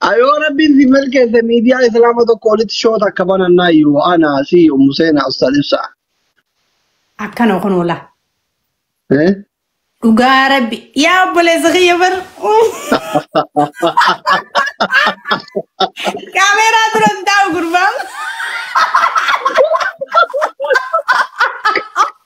Ayoo rabbiin si milkeesse miidiyaa islaama tokko walitti shoota akka banannaa iyyuu ana si ummu seenaa ustaad ibsa. Akkana kun ola. Eh? Dhugaa rabbi. Yaa obboleessa kiyya bar. Kaameeraa dura hin taa'u gurbaan.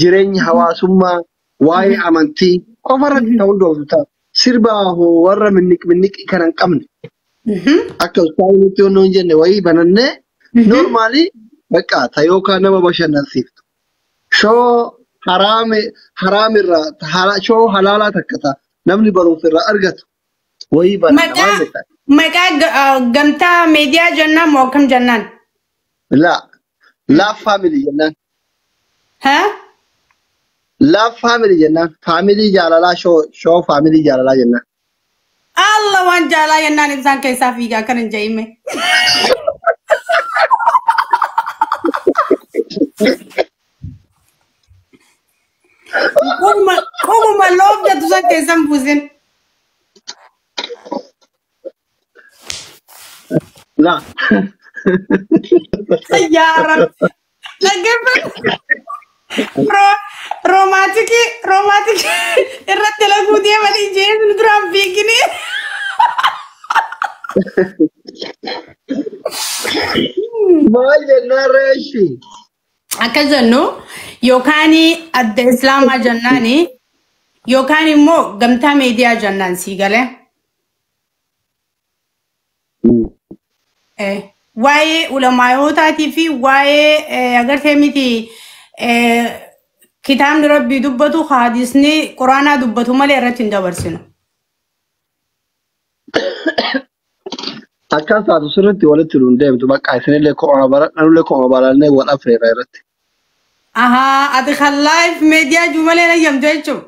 jireenya hawaasummaa, waa'ee amantii qofa irratti kan hundooftu ta'a. Sirba hoo warra minniq minniqii kana hin qabne akka ustaanii nutti yoo hin jenne wayii banannee noormaalii bakka ta yookaan nama bashannansiiftu. Shoo haraame haraamirraa ta hala- shoo halaalaa takka ta namni barumsa irraa argatu wayii bananna maal Maqaa jettan? maqaa ga- ah, gamtaa meediyaa jennaan moo akkam jennaan? La love family jennaan. Ha? Love family jennaan. Family jaalalaa show show family jaalalaa jennaan. Allah waan jaalaa jennaan ibsaan keessaa fiiga akkan hin jedhime. Qomuma qomuma loof jettu san keessan buusin. Laa. Yaa Rabbi. Dhaggeeffadhu. Roo- Roomaatikii roomaatikii irratti laguu deemanii jeesni duraan fiigini. Maal jennaan reeshi? Akka jennu yookaan adda islaamaa jennaani yookaan immoo gamtaa miidiyaa jennaan sii galee. Mm. Eh, waa'ee ulamaayotaatii fi waa'ee eh, agartee miti eh, kitaabni rabbii dubbatu haadisni quraanaa dubbatu malee irratti hin dabarsinu. Akkas taatu sirriitti walitti nuun deemtu bakka isinillee ko'aa baradha nullee ko'aa barannee wal afreera irratti. Ahaa, ati kan live media jumalee na yamtu jechuudha.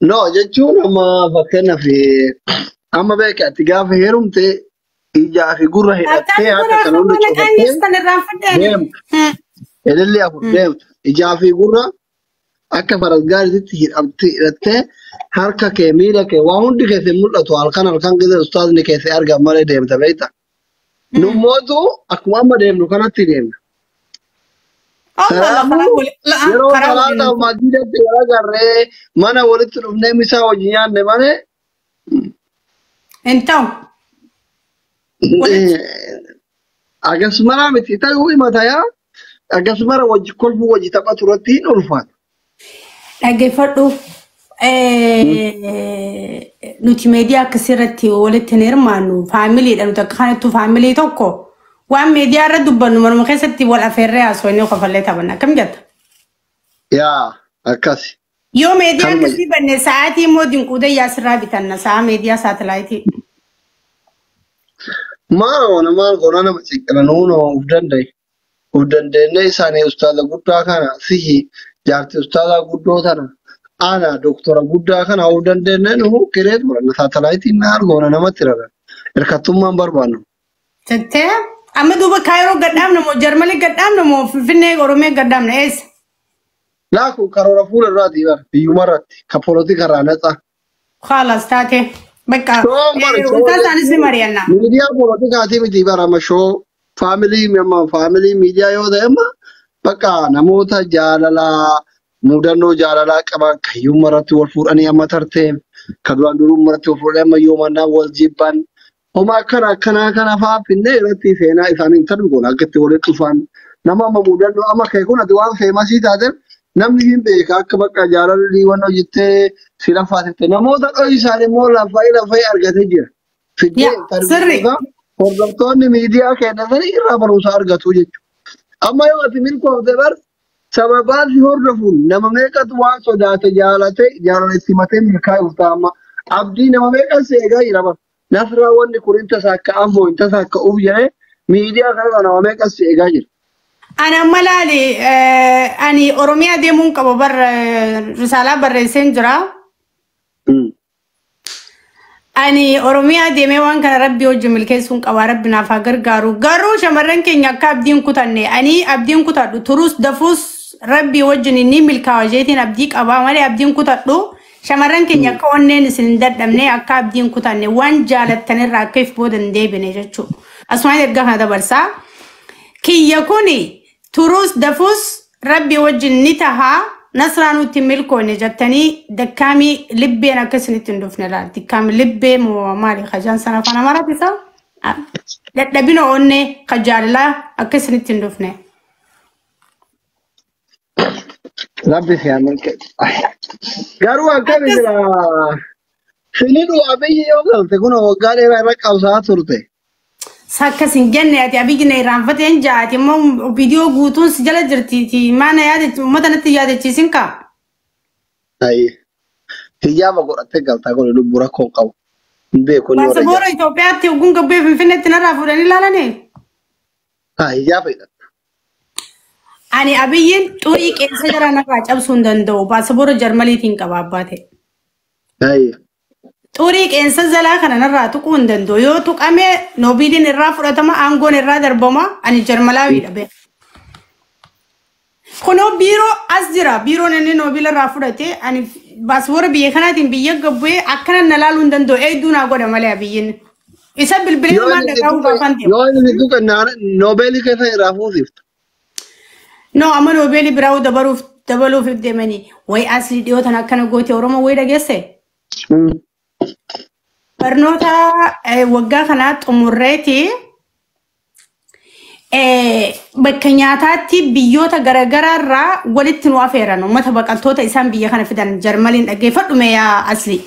No jechuun amma fakkeenyaaf amma beekte ati gaafa heerumte ijaa fi gurra hidhattee Akkaati kun harka kana hunda akkuma naqaanyis cufattee kan irraan fudheen. deemta. Ilillee afur deemta. Ijaa fi gurra akka faras gaariitti hidhamtee hidhattee harka kee miila kee waa hundi keessee mul'atu halkan halkan gidee ustaazni keessee argamu malee deemta beekta. Mm. Nummootu akkuma amma deemnu kanatti deemna. Allah Allah karaa Kanaafuu wali la yeroo karaa waliin salaata hin ta'u. masjiidatti wal agarree mana walitti dhufnee misaa wajjin nyaanne malee Hin ta'u. Walitti akkasumas miti ta'uu himata yaa Akkasumara wajji kolfuu wajji taphatu irratti hin ulfaata. Dhaggeeffadhu. Nuti meediyaa akkasii irratti walitti hin hirmaannu. Faamiliidha nuti akka kanattuu faamilii tokko waan meediyaa irra dubbannu manuma keessatti wal afeerree haasofnee kofallee taphanna. Akkam jetta? Yaa akkasi. Yoo meediyaa Kanuma- akkasii banne sa'aatii immoo dinquudee yaasirraa bitanna sa'a meediyaa saatalaayitii. Maa ona maal goona nama xiqqana nuun of danda'e. Of dandeenye isaanii ustaaza guddaa kana sihi jaarti ustaaza guddoo tana ana doktora guddaa kana of dandeenye nu kireet godhanna saatalaayitii maal goona namatti rara. Hirkattummaan barbaannu. Jettee amma duuba kaayiroo gadhaabna moo jarmanii gadhaabna moo finfinnee oromee gadhaabna eessa? Laaku karoora fuula duraati bar biyyuma irratti ka polotika irraa naxa. Khaalas taate. Bakka Shoon bar eh, shoon ultaa isaanis ni mari'anna. miidiyaa polotikaatii miti bar amma shoo faamilii amma faamilii miidiyaa yoo ta'e amma bakka namoota jaalalaa mudannoo jaalalaa qaban kan yooma irratti wal fuudhanii amma tartee kan duraan durummaa irratti wal fuudhanii amma yoomannaa wal jibban Homa akkana akkanaa kana fa'aa finnee irratti seenaa isaanii intarvi goona akka itti walitti dhufan nama amma mudannoo amma ka'e kun ati waan feemasii taateef namni hin beeka akka bakka jaalalli waan hojjettee si lafaasifte namoota dho'isaan immoo lafa'ee lafa'ee argatee jira. Fiddee Yaa intarvi sirri. goota hordoftoonni miidiyaa kennatanii irraa barumsa argatu jechuudha. Amma yoo ati milkoofte bar sababaan si hordofuun nama meeqatu waan sodaate jaalate jaalala itti matee milkaa'uuf ta'a amma abdii nama meeqan si eegaa jira bar. Nasraa wanni kun hin tasaakka'an moo hin tasaakka'uuf jedhee miidiyaa kanarraa nama meeqas si eegaa jira. Ani amma laali eh, ani Oromiyaa deemuun qaba bar eh, risaalaa barreesseen jira. Mm. Ani Oromiyaa deemee waan kana rabbi hojii milkeessuun qaba rabbi naaf haa gargaaru. Garuu shamarran keenya akka abdiin kutanne ani abdiin kutadhu turus dafuus rabbi wajjin inni milkaawa isheetiin abdii qaba malee abdiin kutadhu Shamarran keenya akka onneen isin hin dadhabne akka abdii hin kutanne waan jaalattan irraa akka if booda hin deebine jechuudha. Asumaan erga kana dabarsaa. Kiyya kuni turuus dafuus rabbi wajjin ni taha nasraa nutti hin milkoone jettanii dakkaamii libbeen akka isinitti hin dhufne laal. Dakkaamii libbee moo maali kajaan sana afaan amaraatti isaa? Ah, Dadhabina onnee ka jaalalaa akka isinitti hin dhufne. Rabbi si haa milkeessu. Garuu akkami Akkas silaa filidhu abiyyi yoo galte kun waggaa dheeraa irra qabsaa turte. akkas hin jenne ati abiyyi na irraanfateen jaati immoo viidiyoo guutuun si jala jirtiiti maana yaadachi uummata natti yaadachiisin kaa. Ayi hiyyaama godhattee galtaa kun lubbu rakkoo hin qabu. Hin beeku inni warra Paasapoora ijaa. Itoophiyaatti ogguun gabbee Finfinneetti narraa fuudhanii ilaalanii. Faayyaa fayyadamta. Ani abiyyiin xurii qeensa jara narraa cabsuu hin danda'u. Paaspoora Jarmaniitiin qaba abbaa ta'e. Faayya. Xurii qeensa jalaa kana narraa tuquu hin danda'u. Yoo tuqame noobiiliin irraa fudhatama, aangoon irraa darbama. Ani Jarmalaawiidha beeku. Kunoo biiroo as jira. Biiroon inni noobila irraa fudhate ani baaswoora biyya kanaatiin biyya gabbu'ee akkanan na laaluu hin danda'u. Eegduu naa godha malee abiyyiin. Isa bilbilee Yoo maal inni dhagaa'uu duuka gaafan deemu. yoo inni duuka naana- noobeelii keessa irraa fuusifta. No amma noobeelii biraa dabaluuf dabaluuf deemanii way asii dhiyootan akkana goote Oromoo way dhageesse. Mm. Barnoota eh, waggaa kanaa xumurreeti eh, bakka nyaataatti biyyoota garaagaraa irraa walitti nu afeeran uummata baqattoota isaan biyya kana fidan jarmaliin dhaggeeffadhume yaa asli.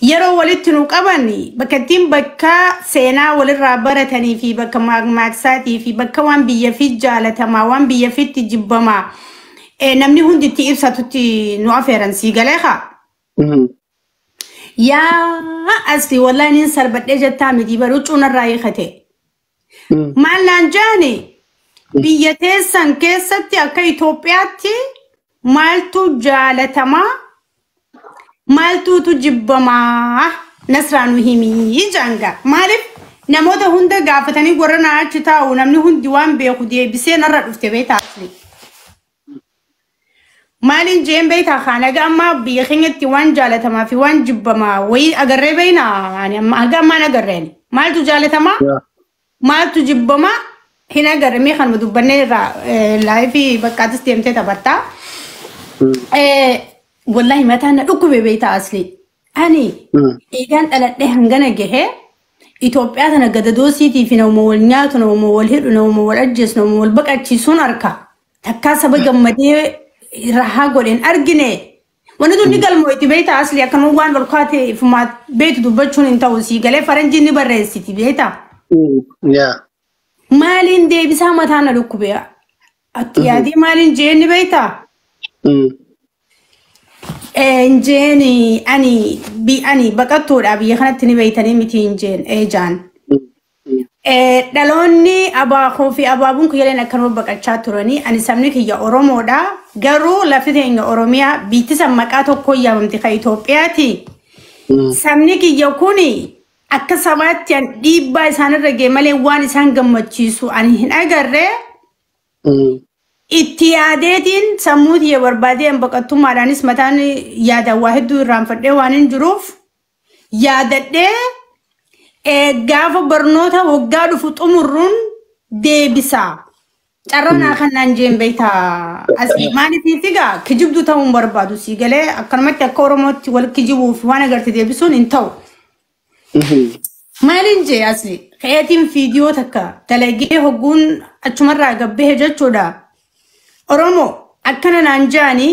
Yeroo walitti nu qaban bakka ittiin bakka seenaa walirraa baratanii fi bakka maaqmaaqsaatii fi bakka waan biyya fi jaalatamaa waan biyya fitti jibbamaa Eh, Namni hundi itti ibsatutti nu afeeran sii galee kaa. Mhm. Yaa asfi wallahi nin sarbadhee jettaa miti bar huccuu narraa hiikate. Mhm. Maal naan jaani biyya teessan keessatti akka Itoophiyaatti maaltu jaalatamaa maaltuutu jibbamaa nasraa nu himii jaanga maaliif namoota hunda gaafatanii warra naa achi taa'u namni hundi waan beeku deebisee narra dhufte beektaa asli maaliin jeen beektaa kaan aga ammaa biyya keenyatti waan jaalatamaa fi waan jibbamaa wayii agarree beeknaa ani amma aga ammaan agarreen maaltu jaalatamaa Maaltu jibbama hin agarre mee kanuma dubbannee irraa laayifii baqqaatis deemtee taphatta. Wallahi mataan na dhukkube beektaa asli. Ani eegaan dhaladhee hangana gahee Itoophiyaa tana gadadoo siitii fi nama wal nyaatu, nama wal hidhu, nama wal ajjeesu, nama wal baqachiisuun arka. Takkaa saba gammadee rahaa godheen argine Wanni tun ni galmoo itti beektaa asli akka nu waan ol kaate fumaat beektu dubbachuun hin ta'u sii galee faranjiin ni barreessiti beektaa. Yaa. Maaliin deebisaa mataa na dhukkube atti yaadee maaliin jeen ni beektaa. Injeen ani bi ani baqattuudha biyya kanatti ni beektanii miti injeen eejaan. Eh, Dhaloonni abaakoo fi abaabuun kiyyaleen akkanuma baqachaa turanii ani sabni kiyya Oromoodha. Garuu lafti teenya Oromiyaa biitti san maqaa tokkoon yaamamti kan Itoophiyaati. Sabni kiyya kun akka sabaatti an dhiibbaa isaanirra ga'e malee waan isaan gammachiisu ani hin agarre. Itti yaadeetiin sammuu tiyya barbaadee an baqattummaadhaanis mataan yaadaan waa hedduu irraanfadhee waan hin jiruuf yaadadhee eh, gaafa barnoota waggaa dhufu xumurruun deebisa. Carraa naa kan naan jeen beekta asii maaliif figaa kijibduu ta'uu hin barbaadu sii galee akkanumatti akka Oromootti wal kijibuuf waan agarte deebisuun hin ta'u. Maaliin jee asii keetiin fiidiyoo takka dalagee hogguun achumarraa gabbehe jechuudha. Oromoo akkana naan jaani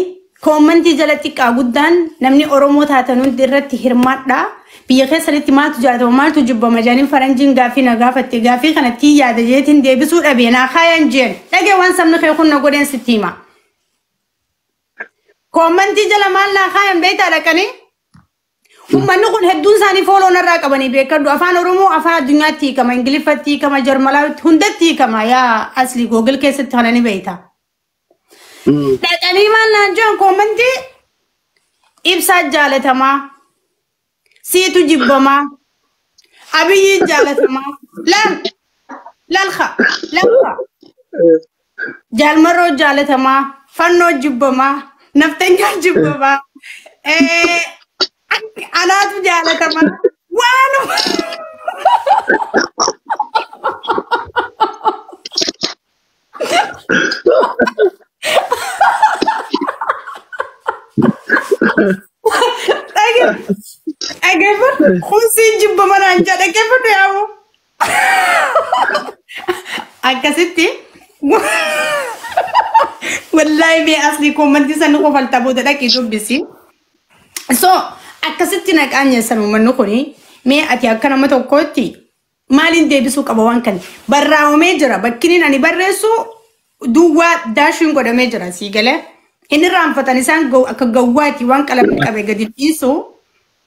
koommantii jala xiqqaa guddaan namni Oromoo taatan hundi irratti hirmaadhaa biyya keessanitti maaltu jaalatama maaltu jibbama jaaniin faranjiin gaaffii na gaafatte gaaffii kana tii yaada jeetiin deebisuu dhabee naa kaayaan jeen dhagee waan sabni kee kun na godheen sitti hima. Koommantii jala maal naa kaayan beektaa dhaqanii? Ummanni kun hedduun isaanii fooloo narraa qabanii beekadhu. Afaan Oromoo afaan addunyaatti hiikama, Ingiliffatti hiikama, Jarmalaawitti hundatti hiikama. Yaa asli Google keessatti kana ni beekta. Mm. Dhaqanii maal naan jedhan koomantii ibsaa jaalatamaa, siitu jibbamaa, abiyyiin jaalatamaa. Laal, laalka, laalka. Jaalmarroo jaalatamaa, fannoo jibbamaa, naftanyaa jibbamaa, eh, ak- anaatu jaalatamaa, waanuma. Dhage- Dhageeffadhu, kun siin jibbamanaan jedha, dhaggeeffadhu yaa'u. akkasitti wallaahi mee asli koomantii san kofalta booda dhaqii dubbisi so akkasitti naqaan nyeessan uummanni kuni mee ati akka nama tokkootti maaliin deebisuu qaba waan kana barraa'omee jira bakkiniin ani barreessu duwwaa daashiin godhamee jira sii galee hin irraanfatan isaan gaw- akka gawwaati waan qalamni qabe gadi dhiisu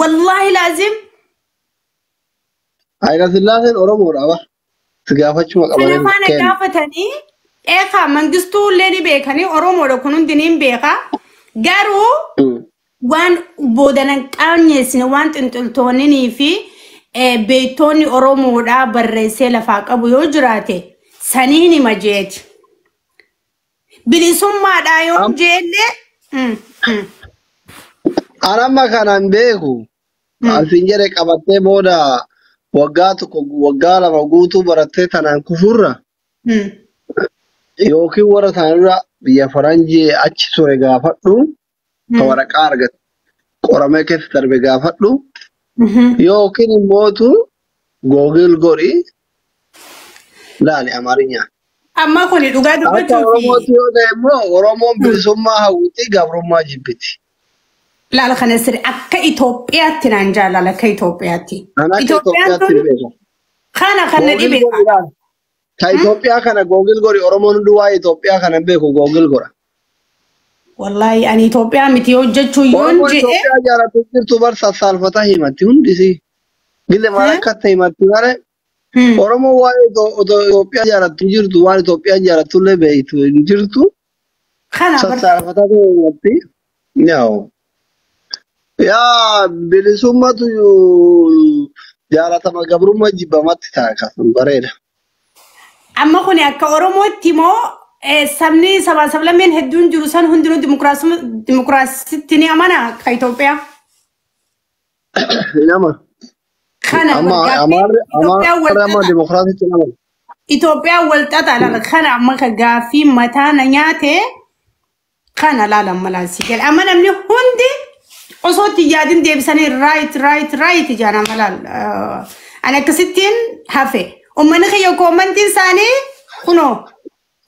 Wallaahi laazim Hayila Sillaaseen Oromoodha ba. Si gaafachuma kana qabaniin faana kenna. gaafatanii eekaa mangistuu illee ni beekanii Oromoodha kun hundi ni beeka. Garuu Mm. waan boodanan qaanyeessine waan xinxiltoonninii fi eh, beektoonni Oromoodhaa barreessee lafaa qabu yoo jiraate saniin hima jeeti. Bilisummaadhaa yoon Am- jeellee. Mm, mm. An amma kanan beeku Mm. alfiin jedhe qabattee booda waggaa tokko waggaa lama guutuu barattee tanaan kufurra Mm. yookiin warra tanarra biyya faranjii achi ture gaafadhu ka waraqaa argate qoramee keessa darbe gaafadhu yookiin immootu googil godhi laali amaarinyaan. Amma kuni dhugaa Akka dubbachuuti. Oromootti yoo ta'e immoo Oromoon bilisummaa hawwiti gabrummaa jibbiti. Laala kana sirri akka Itoophiyaatti naan jaalala akka Itoophiyaatti. Kan akka Itoophiyaan Itoophiyaatti tun hin beeku. kana kan na Googil dhibe godhi laali. Ta Hmm? Itoophiyaa kana googil godhi Oromoon hunduu waa'ee Itoophiyaa kana hin beeku googil godha. Wallaahi ani Itoophiyaa miti hojjechuu yoon Oromoo je'e Itoophiyaa jaalatu jirtu bar sassaalfata himatti hundisi. Gille maal Hmm? akka ta'e himatti malee Hmm. Oromoo waa'ee Ito- Ito- Itoophiyaa jaalatu hin jirtu waan Itoophiyaan jaalatullee beektu hin jirtu. Kana bar Sassaafataa ta'uurratti yaa'u. Yaa bilisummatu jaalatama gabrummaa jibbamatti ta'a kan bareeda. amma kun akka Oromootti immoo eh, sabni sabaa sablammeen hedduun jiru san hundinuu dimokiraasuma- dimokiraasitti ni amana akka Itoophiyaa. Nama. Kana Amma gaaffiin Amaarri Itoophiyaan Amaarri wal amma xaxaa. dimokiraasii cina mala. Itoophiyaan wal xaxaa laala. Kana amma ka gaaffiin mataa na nyaate kana laala amma laala si gala. Amma namni hundi osoo itti hin yaadin deebisanii raayit raayit raayit ijaan amma laala. Ani akkasittiin hafe. Uummanni kiyya koommantiin isaanii kunoo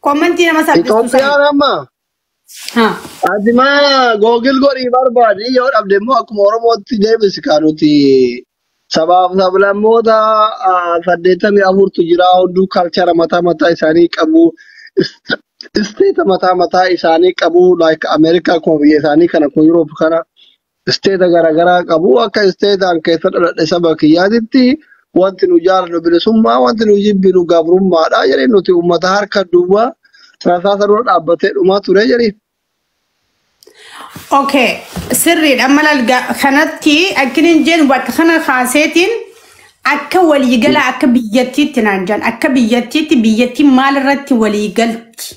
koommantii nama salphistu sana. Itoophiyaan amma Haa. Ati ma googil godhii barbaadi yoo dhabde immoo akkuma Oromootti deebisi kaa nuti sabaaf sablammoota ah, saddeettamii afurtu jira hunduu kalchara mataa mataa isaanii qabu ist- isteeta mataa mataa isaanii qabu like Ameerikaa akkuma biyya isaanii kana akkuma Yuroop kana isteeta garaagaraa qabu. Akka isteetaan keessa dhaladhe saba kiyyaatitti wanti nu jaallannu bilisummaa, wanti nu jibbinu gabrummaadha jedhee nuti uummata harka duwwaa rasaasa dura dhaabbatee dhumaa ture jedhee. Okay, sirriidha. Amma lalga kanatti akkiniin jeen bakka kana kaaseetiin akka waliigala akka biyyattiitti naan jedhan akka biyyattiitti biyyattiin maal irratti waliigalti?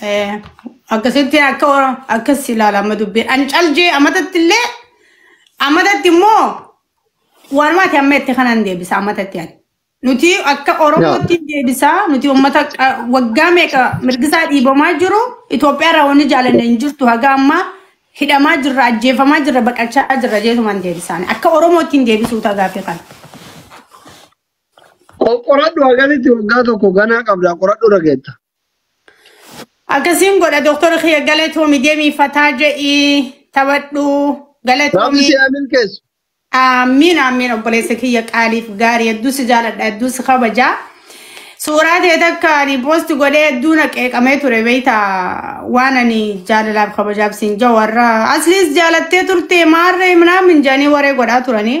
Eh, akkasitti akka akkas ilaala amma dubbiin ani caljee amatatti illee amatatti immoo waanumati amma itti kanan deebisa amatatti ani nuti akka Yaa. oromootti deebisa nuti ummata qa- waggaa meeqa mirgisaa dhiibamaa jiru Itoophiyaa irraa wanni jaalanne hin jirtu haga ammaa hidhamaa jirra ajjeefamaa jirra baqachaa jirra jeetumaan deebisaan akka oromootti hin deebisuu tagaafi kana. Qoqqoradhu hagamitti waggaa tokko ganaa qabdaa qoradhu irra geetta. Akkasiin godha doktora kiyya galatoomi deemii fataa je'ii taphadhu Rabbi galatoomi. si haa milkeessu. Aamiin aamiin obboleessa kiyya qaaliif gaarii hedduu si jaaladha hedduu si kabaja. Suuraa ta'e takka ani poosti godhee hedduu na qeeqamee ture beeyta waan ani jaalalaaf kabajaaf siin jaa warra asliis jaalattee turte maarree minaamin jaanii waree godhaa turanii.